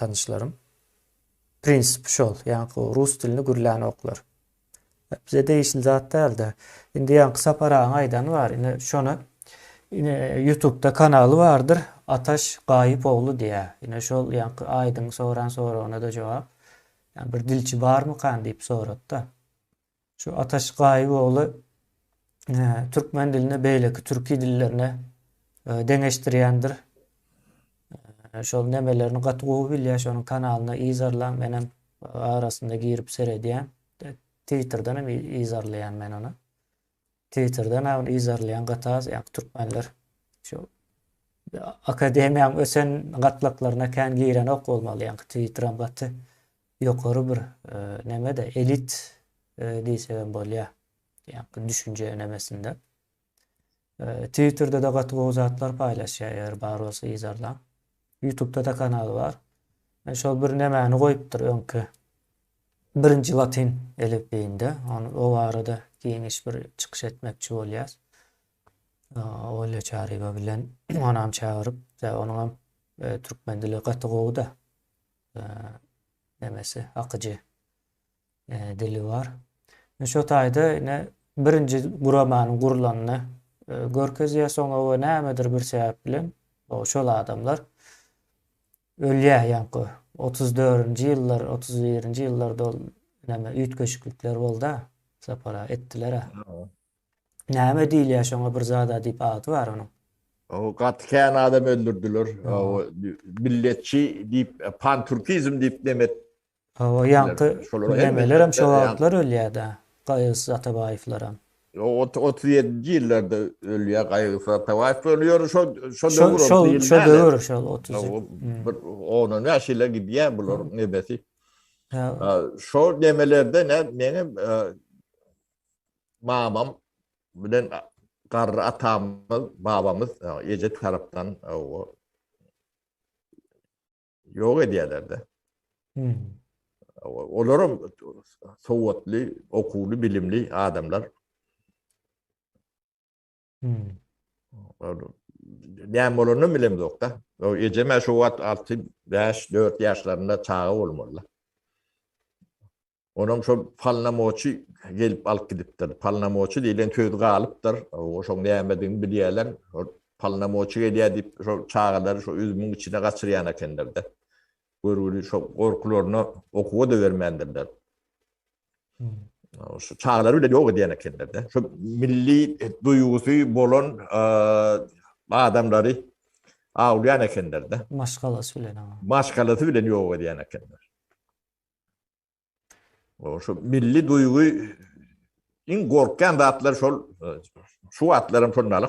tanyşlarym. Prinsipi şol, ýaňky rus dilini gürlänoklar. Bize degişli zat däldi. Indi ýaňky Sapar agaň aýdany bar, ine şony ine ýutubda kanaly bardyr, Ataş Gaýypogly diýýär. Ine şol ýaňky aýdyň soran soragyna-da jogap. Ýa bir dilçi barmykan diýip sorady-da. Şu Ataş Gaýyboğly türkmen dilini beýleki türki dillerine deňeşdirýändir. Şol nemelerini gaty gowy bilýär. Şonuň kanalyna yzarlaň. Men hem arasynda girip seredýän. Twitterden hem yzarlaýan men ony. Twitterden ha bunu yzarlaýan gatas ýaňky türkmenler şu akademiýaň ösen gatlaklaryna kän girenok bolmaly ýaňky twitteram gaty ýokary bir nemede elit diýsegem bolýa ýaňky düşünje nemesinde twitterdede gaty gowy zatlar paýlaşýa eger bar bolsa yzarlaň Ýutubda da kanal bar. Men şol bir nämäni goýupdyr öňki. Birinji latyn elipbiýinde. Ony o barada giňiş bir çykyş etmekçi bolýas. Olýa Çaryýewa bilen onam çagyryp, tä onuňam türkmen dili gaty gowy-da. Nemesi, akyjy. dili bar. Ine şo taýda ine birinji guramanyň gurulanyny görkezýär, soňra we nämedir bir sebäp bilen şol adamlar ölýär ýaňky otuz dördünji ýyllar, otuz birinji ýyllarda ol näme üýtgeşiklikler bolda, sapara etdiler-ä. Näme diýilýär şoňa bir zada diýip ady bar onuň. O gaty kän adam öldürdiler. Milletçi diýip, panturkizm diýip neme Hawa ýaňky güllemelerem şo wagtlar ölýäda Gaýgysy Atabaýewlerem. Ýok otuz otuz ýedinji ýyllarda ölýä Gaýgysy Atabaýew ony ýöne şo şo döwür şo şo döwür şo otuz bir ondan ýaş ýyla gidýä bular nebesi. Şo nemelerde ne meňem mamam bilen garry atamyz babamyz eje tarapdan o Ýok edýärler-de. Olaram sowatly, okuwly, bilimli adamlar. Näme bolanyny bilemzok-da. Ejem-ä şu wagt alty, bäş, dört ýaşlarynda çaga bolmaly. Onuň şol polnomoçi gelip alyp gidipdir. Polnomoçi diýlen söz galypdyr. Şoň nämedigini bilýärler. Şol polnomoçi gelýär diýip, şol çagalary şo üzümiň içine gaçyrýan ekenler-de. Görgüli şo gorkularyna okuwa-da bermändirler. Şu çagalary bile ýok edýän ekenler-de. Şo milli duýgusy bolan adamlary awlaýan ekenler-de. Maşgalasy bilen. Maşgalasy bilen ýok edýän ekenler. O şu milli duýgy iň gorkýan zatlar şol şu wagtlaram şondaly.